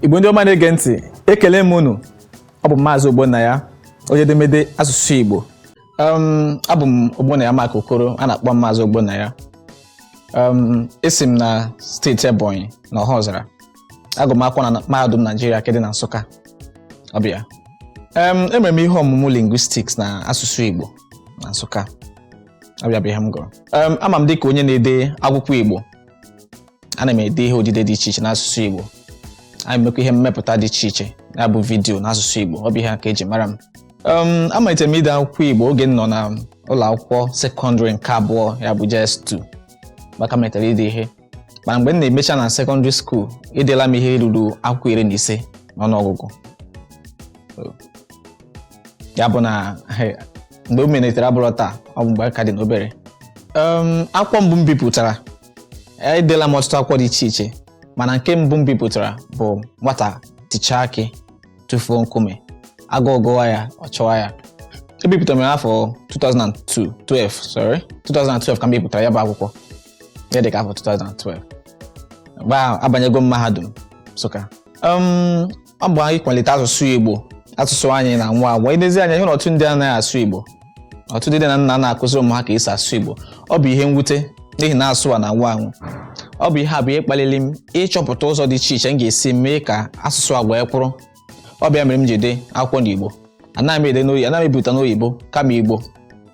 igbo ndị ọma na-ege ntị ekele m unu ọ bụ maazị ogbonnaya onye edemede asụsụ igbo um, abụ m ogbonnaya mark okoro a na-akpọ maazị ogbonnaya um, esi m na steeti ebonyi na ọhaọzara agụ m akwụkwọ na mahadum naijiria nke dị na nsụka ọ bụ ya um, emere m ihe ọmụmụ lingwistiks na asụsụ igbo na nsụka ọ bụ ya bụ ihe m gụrụ Em, a ma m dịka onye na-ede akwụkwọ Igbo ana m ede ihe odide dị iche iche n'asụsụ Igbo ana m emekwa ihe mmepụta dị iche iche ya bụ vidiyo n'asụsụ Igbo ọ bụ ihe a ka e ji mara m Em, amalitere m ide akwụkwọ Igbo oge m nọ na ụlọ akwụkwọ sekọndịrị nke abụọ ya bụ JS2 ka m malitere ide ihe mana mgbe m na-emecha na sekọndịrị skuul edela m ihe ruru akwụkwọ iri na ise n'ọnụọgụgụ ya bụ na he, mgbe m malitere abụrọ taa ọ bụ mgbe a ka dị n'obere Em, akwụkwọ mbụ m bipụtara edela m ọtụtụ akwụkwọ dị iche iche mana nke mbụ m bipụtara bụ nwata tichaa akị tụfuo nkume agụụ gụwa ya ọ chọwa ya ebipụtara m ya n'afọ 2002 12 sorry 2012 ka m bipụtara ya bụ akwụkwọ ihe dị ka afọ 2012 mgbe ahụ abanyego m mahadum Nsụka Um, ọ bụ ịkwalite asụsụ Igbo asụsụ anyị na-anwụ anwụ i lezie anya ị hụ na ọtụtụ ndị anaghị asụ Igbo ọtụtụ ndị nne na nna anaghị akụzi ụmụ ha ka esi asụ Igbo ọ bụ ihe mwute n'ihi na asụsụ a na-anwụ anwụ ọ bụ ihe a bụ ihe kpaliri m ịchọpụta ụzọ dị iche iche m ga-esi mee ka asụsụ agwa ya kwụrụ ọ bụ ya mere m ji ede akwụkwọ n'Igbo anaghị m ede n'oyibo anaghị m ebipụta n'oyibo kama Igbo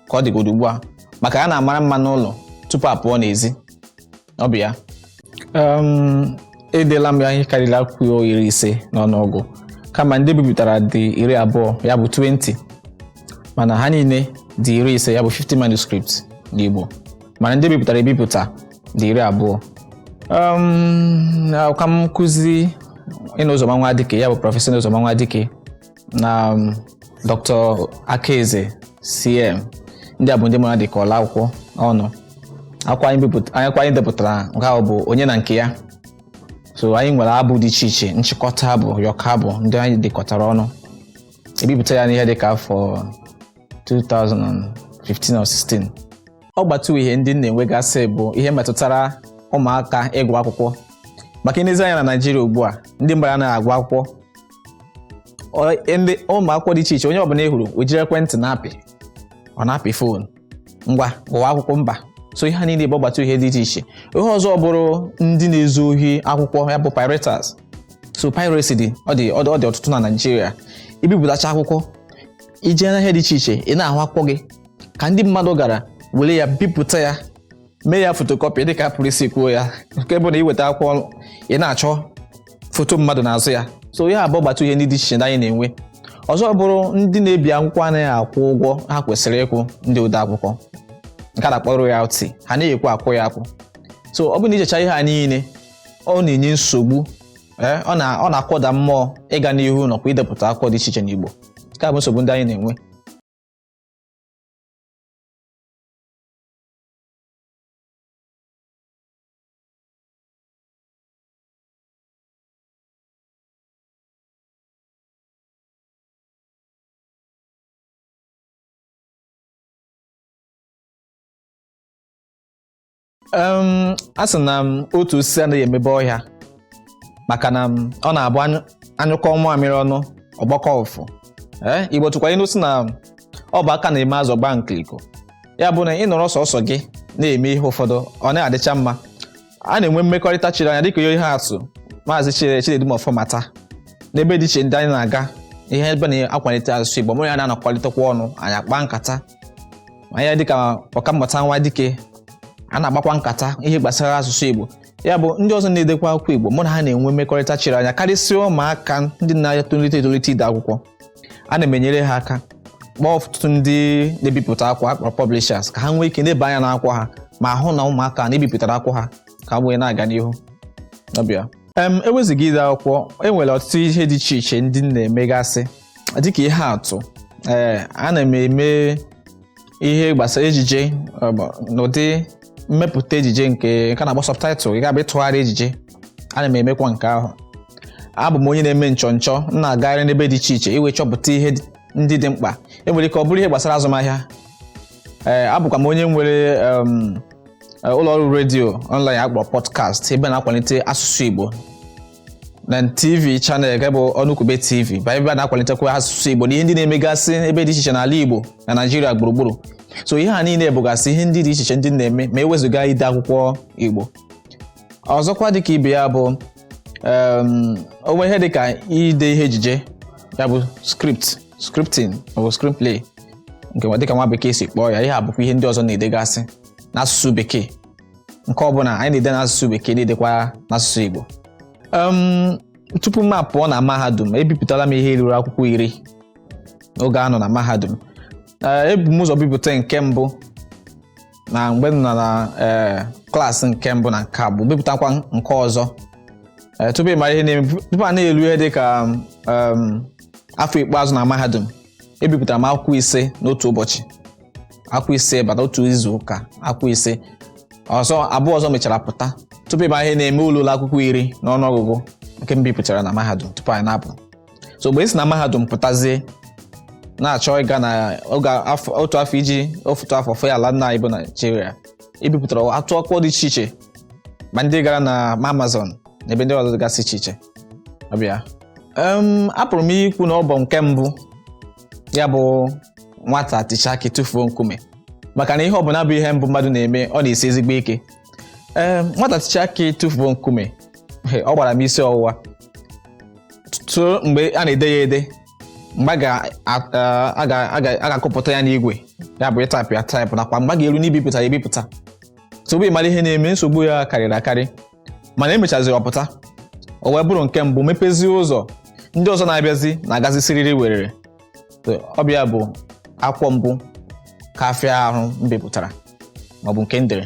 ka ọ dịgodo ugbu a maka a na-amara mma n'ụlọ tupu a pụọ n'ezi ọ bụ ya um, edela m ihe karịrị akwụkwọ iri ise n'ọnụọgụ kama ndị e bipụtara dị iri abụọ ya bụ 20 mana ha niile dị iri ise ya bụ 50 manuscript n'Igbo mana ndị e bipụtara ebipụta dị iri abụọ um, ọkankụzi Inno Ụzọma Nwadike ya bụ prọfesọ Inno Ụzọma Nwadike na um, Dr. Akaeze CM ndị a bụ ndị mụ na ha dekọrọla akwụkwọ ọnụ akwụkwọ anyị bipụt- anyị- akwụkwọ anyị depụtara nke ahụ bụ onye na nke ya so anyị nwere abụ dị iche iche nchịkọta abụ ụyọkọ abụ ndị anyị dekọtara ọnụ e bipụta ya n'ihe dị ka afọ 2015 or 16 ọgbatauhie ndị m na-enwegasị bụ ihe metụtara ụmụaka ịgụ akwụkwọ maka i lezie anya na naijiria ugbu a ndị mmadụ anaghị agụ akwụkwọ ndị ụmụ akwụkwọ dị iche iche onye ọbụla ị hụrụ o jiri ekwentị na-apị ọ na-apị fon ngwa gụwa akwụkwọ mba so ihe a niile bụ ọgbatauhie dị iche iche ihe ọzọ bụrụ ndị na-ezu ohi akwụkwọ ya bụ pirates so piracy dị ọ dị ọ dị ọtụtụ na Naịjirịa i bipụtacha akwụkwọ i jee n'ahịa dị iche iche ị na-ahụ akwụkwọ gị ka ndị mmadụ gara were ya bipụta ya mee ya fotokopi dịka a pụrụ isi kwuo ya nke bụ na i weta akwụkwọ ị na-achọ foto mmadụ n'azụ ya so ihe a bụ ọgbatauhie ndị dị iche iche anyị na-enwe ọzọ bụrụ ndị na-ebi akwụkwọ anaghị akwụ ụgwọ ha kwesịrị ịkwụ ndị ode akwụkwọ nke a na-akpọ royalty ha anaghị ekwe akwụ ya akwụ so ọ bụrụ na i checha ihe a niile ọ na-enye nsogbu eh, ọ na-akụda mmụọ ịga n'ihu nakwa idepụta akwụkwọ dị iche iche n'Igbo nke a bụ nsogbu ndị anyị na-enwe a sị na otu osisi anaghị emebe ọhịa maka na um, ọ na-abụ a nyụ a nyụkọọ mamịrị ọnụ ọ gbakọọ ụfụfụ ee Igbo tụkwa ilu sị na ọ bụ aka na-eme azụ gbaa nkiriko ya bụ na ị nọrọ sọsọ gị na-eme ihe ụfọdụ ọ naghị adịcha mma a na-enwe mmekọrịta chiri anya dịka ihe atụ maazị Chine Chinedum Ọfọmata n'ebe dị iche ndị anyị na-aga ihe ebe a na-akwalite asụsụ Igbo mụ na ya na-anọkọrịtakwa ọnụ anyị akpaa nkata onye dịka ọkammụta Nwadike a na-akpakwa nkata ihe gbasara asụsụ Igbo ya bụ ndị ọzọ na-edekwa akwụkwọ Igbo mụ na ha na-enwe mmekọrịta chiri anya karịsịa ụmụaka ndị na-etolite etolite ide akwụkwọ ana m enyere ha aka kpọọ ọtụtụ ndị na-ebipụta akwụkwọ a kpọrọ publishers ka ha nwee ike leba anya n'akwụkwọ ha ma hụ na ụmụaka na e bipụtara akwụkwọ ha ka ha wee na-aga n'ihu ọ bịa em e wezuga ide akwụkwọ e nwere ọtụtụ ihe dị iche iche ndị m na-emegasị dịka ihe atụ ee ana m eme ihe gbasara ejije n'ụdị mmepụta ejije nke nke a na-akpọ subtitle ị ga-abịa ịtụgharị ejije ana m emekwa nke ahụ abụ m onye na-eme nchọnchọ m na-agagharị n'ebe dị iche iche iwe chọpụta ihe ndị dị mkpa e nwere ike ọ bụrụ ihe gbasara azụmahịa ee eh, abụkwa m onye nwere eh, ụlọ ọrụ redio online a kpọrọ podcast ebe a na-akwalite asụsụ Igbo na TV channel nke bụ Ọnụkwube TV bụ ebe a na-akwalitekwa asụsụ Igbo na ihe ndị na-emegasị ebe dị iche iche n'ala Igbo na Naịjirịa gburugburu so ihe a niile bụgasị ihe ndị dị iche iche ndị m na-eme ma e wezuga ide akwụkwọ Igbo ọzọkwa dịka ibe ya bụ um, o nwere ihe dịka ide ihe ejije ya bụ script scripting maọbụ screenplay nke dịka nwa bekee si kpọọ ya ihe a bụkwa ihe ndị ọzọ m na-edegasị n'asụsụ bekee nke bụ na anyị na-ede n'asụsụ bekee na-edekwa n'asụsụ Igbo um, tupu m apụọ na mahadum ebipụtala m ihe ruru akwụkwọ iri n'oge a nọ na mahadum eh, ebu m ụzọ bipụta nke mbụ na mgbe m nọ na eh, klaasị nke mbụ na nke abụọ bipụtakwa nke ọzọ eh, tupu ị mara ihe na-eme tupu a na-elu ihe dị ka um, afọ ikpeazụ na mahadum ebipụtara m akwụkwọ ise n'otu ụbọchị akwụkwọ ise bata otu izu ụka akwụkwọ ise ọzọ abụọ ọzọ mechara pụta tupu ị mara ihe na-eme o ruola akwụkwọ iri n'ọnụọgụgụ nke m bipụtara na mahadum tupu anyị na-apụ so mgbe e si na mahadum pụtazie na-achọ ịga na oge otu afọ iji ofu otu afọ fee ala nna anyị bụ naịjirịa ebipụtara atụ akwụkwọ dị iche iche ma ndị gara na amazon na ebe ndị ọzọ dịgasị iche iche ọ bụ ya apụrụ m ikwu na ọ bụ nke mbụ ya bụ nwata tichaa akị tụfuo nkume maka na ihe ọbụla bụ ihe mbụ mmadụ na-eme ọ na-esi ezigbo ike ee nwata tichaa akị tụfuo nkume he, ọ gbara m isi ọwụwa tuo mgbe a na-ede ya ede mgbe a ga- a- a- a ga- a ga- a ga-akụpụta ya n'igwe ya bụ ịtaịpụ ya taịpụ nakwa mgbe a ga-eru n'ibipụta ya ebipụta tupu ị mara ihe na-eme nsogbu ya karịrị akarị mana e mechaziri ọ pụta o wee bụrụ nke mbụ mepezie ụzọ ndị ọzọ na-abịazi na-agazi siriri werere So, ọ bụ ya bụ akwụkwọ mbụ ka fịa ahụ m bipụtara maọbụ nke m dere